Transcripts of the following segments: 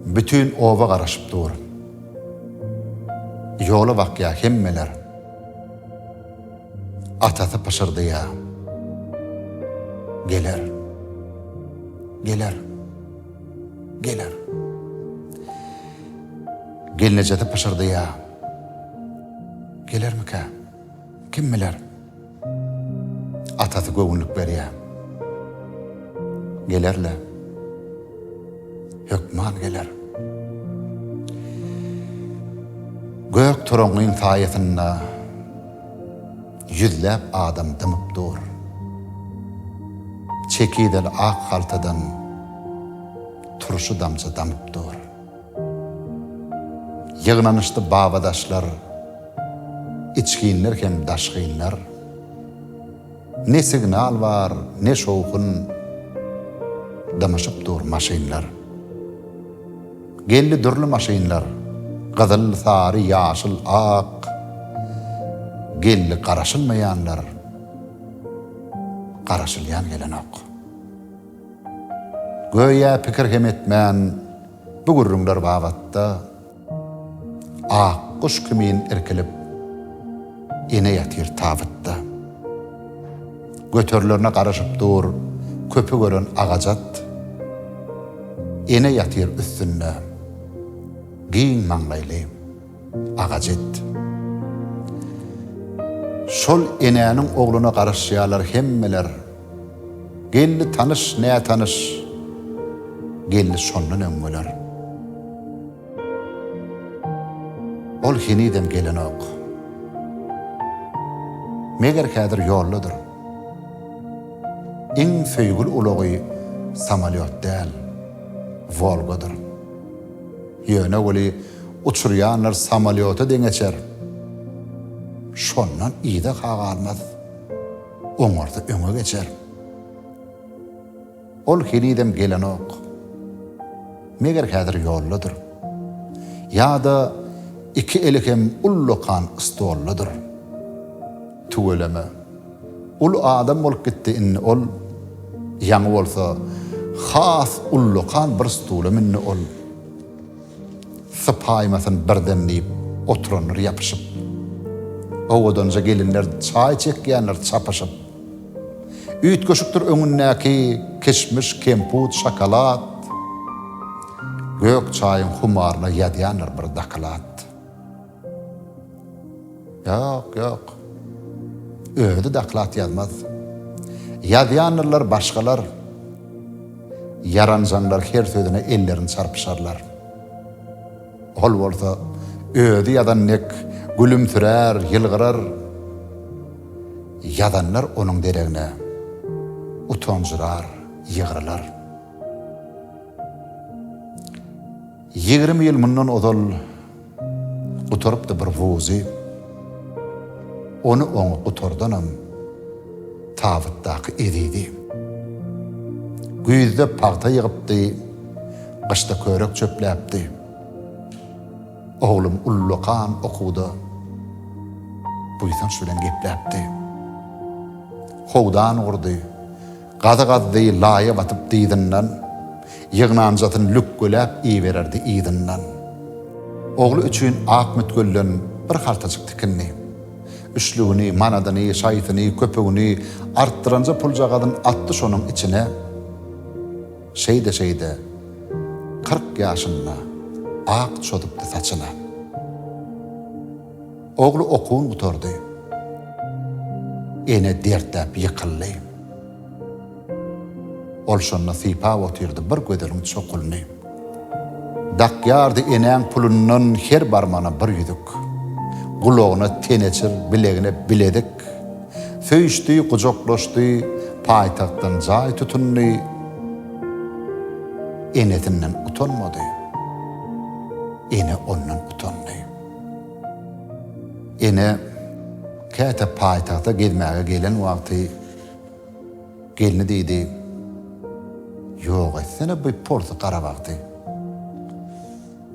Bütin oba garaşyp dur. Ýola bakýa hemmeler. Atasy pyşyrdaýa. Geler. Geler. Geler. Gelnejesi pyşyrdaýa. Gelermikä? Kim biler? Atasy göwünlik berýär. Geler-le. Hökman geler. Gök toraňyň saýasynda ýüzläp adam dymyp dur. Çekideli ak haltadan turşy damja damyp dur. Ýygnanyşdy babadaşlar, içginler hem daşgynlar. Ne signal bar, ne şowhun, dymyşyp dur maşynlar. Geldi dürli maşynlar, gyzyl, sary, ýaşyl, ak. Geldi garaşylmaýanlar, garaşylýan gelenok. Göýä pikir hem etmän bu gürrüňler babatda Ak guş kimin irkilip ene ýatyr tabytda. Göterilerine garaşyp dur köpi gören agajat Ene ýatyr üstünde giň maňlaýly. Agajet. Şol enäniň ogluna garaşýarlar hemmeler. Gelni tanyş, nätanyş. Gelni şondan öň bolar. Ol henizem gelenok. Meger häzir ýoldadyr. Iň söýgül ulagy samolýot däl, Wolgadyr. Ýöne weli uçurýanlar samolýota deň geçer. Şondan yza-ha galmaz. Oňardy öňe geçer. Ol henizem gelenok. Meger häzir ýoldadyr. Ýa-da iki eli hem ullakan stoldadyr. Tüweleme. Ol adam bolup gitdi, indi ol ýaňy bolsa has ullakan bir stula mündi, ol sypaýmasyn birden diýip oturandyr ýapyşyp. Owadanja gelinler çaý çekýändir çapyşyp. Üýtgeşikdir öňündäki kişmiş, kemput, şokolad. Gök çaýyň humaryna ýazýandyr bir doklad. Ýok, ýok. Özi doklad ýazmaz. Ýazýandylar başgalar. Ýaranjaňlar her sözüne ellerini çarpyşarlar. Ol bolsa özi ýazan dek gülümsirär, ýylgyrar. Ýazanlar onuň deregine utanjyrar, ýygrylar. Ýigrimi ýyl mundan ozal. Gutarypdy bir wuzy. Ony oňa gutardanam tabytdaky ezidi. Güýzde pagta ýygypdy, gyşda körek çöpläpdi. Oglum ullakan okuwda buýsanç bilen gepläpdi. Howdan gurdy. Gazy gazdy, laýa batyp dyzyndan, Ýygnanjasyn lükgeläp iýibererdi yzyndan. Ogly üçin ak mütgülden bir haltajyk tikindi. Üçlügini, manadyny, şaýsyny, köpügini artdyranja puljagazyn atdy şonuň içine. Şeýde-şeýde, kyrk ýaşynda ak çozupdy saçyna. Ogly okuwyn gutardy. Ene dertdäp ýykyldy. Ol şonda sypap otyrdy bir gözeliň çokulyny. Dakýardy enäň pulundan her barmana bir ýüzük. Gulagyna teneçir, bilegine bilezik. Söýüşdi, gujaklaşdy, paýtagtdan jaý tutundy. Enesinden utanmady. Ene ondan utandy. Ene käte paýtagta gezmäge gelen wagty gelni diýdi, Ýok etsene bu porsy garabagty.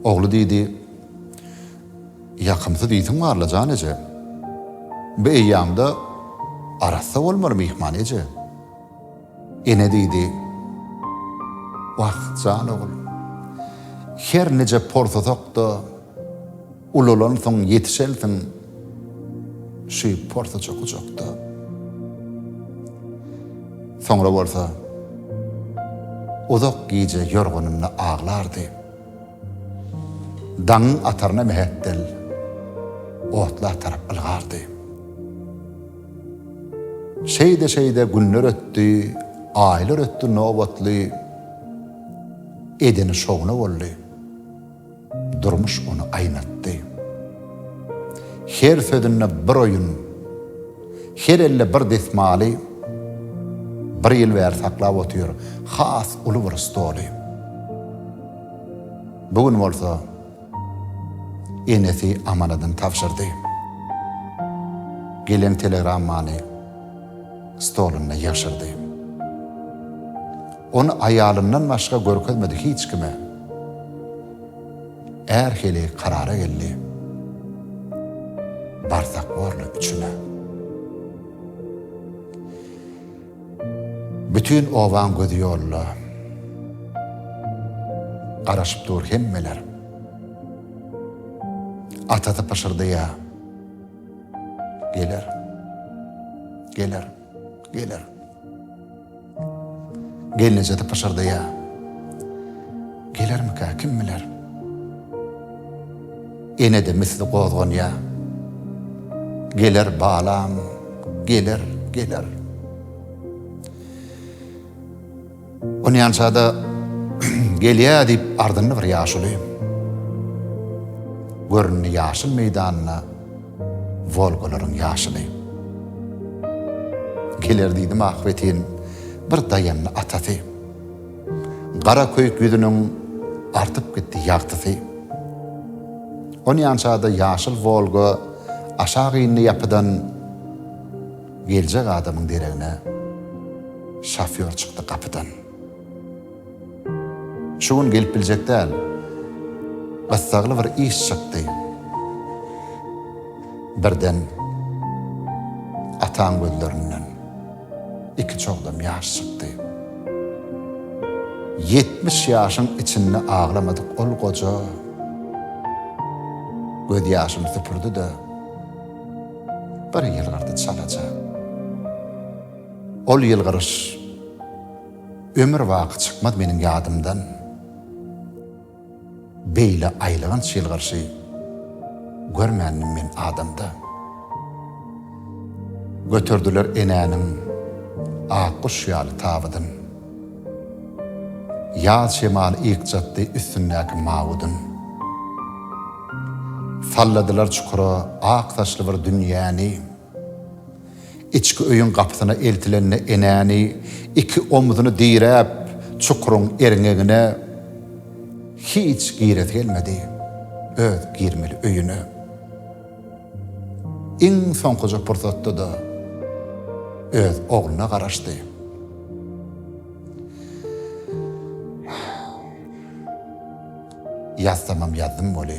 Ogly diýdi, Ýakymsyz ýitiň bar-la jan eje. Bu eýýamda arassa bolmaly myhman eje. Ene diýdi, Wah, jan ogul, her nije porsasak-da, ulalansyň, ýetişensiň şu porsaja gujakda. Soňra bolsa uzak gije ýorganynda aglardy. Daňyň ataryna mähetdel otla tarap ylgardy. Şeýde-şeýde günler ötdi, aýlar ötdi nobatly, edeni şowuna boldy. Durmuş ony aýnatdy. Her sözünde bir oýun, her elde bir desmaly, bir ýyl bäri saklap otyr has uly bir stoly. Bu gün bolsa, Enesi amanadyny tabşyrdy. Gelen telegrammany stolunda ýygşyrdy. Ony aýalyndan başga görkezmedi hiç kime. Är hili karara geldi. Barsak borly üçüne. Bütin obaň gözi ýolda. Garaşyp dur hemmeler. Atasy pyşyrdaýa. Geler. Geler. Geler. Gelnejesi pyşyrdaýa. Gelermika, kim biler? Ene-de misli gozganýar. Geler balam, geler, geler. Onýança-da gelýär diýip ardyndy bir ýaşuly. Göründi ýaşyl meýdanyna Wolgalaryň ýaşyly. Geler diýdim ahbetin bir daýandy atasy. Gara köýük ýüzüniň artyp gitdi ýagtysy. Onýança-da ýaşyl Wolga aşak indi ýapydan geljek adamyň deregine. Şofýor çykdy gapydan. Şu gün gelip biljek däl. Gyssagly bir iş çykdy. Birden ataň gözlerinden. Iki çogdam ýaş çykdy. Ýetmiş ýaşyň içinde aglamadyk ol goja gözýaşyny süpürdi-de, bir ýylgyrdy çalaja. Ol ýylgyryş ömür baky çykmaz meniň ýadymdan. Beýle aýylganç ýylgyrşy görmändim men adamda. Göterdiler enäniň ak guş ýaly tabydyn. Ýaz şemaly ykjatdy üstündäki mawudyn. Salladylar çukura ak saçly bir dünýäni. Içki öýüň gapysyna eltilende enäni iki omzuny diräp çukuryň erňegine hiç giresi gelmedi. Öz girmeli öýüne iň soňkuja pursatda-da öz ogluna garaşdy. Ýazsamam ýazdym weli.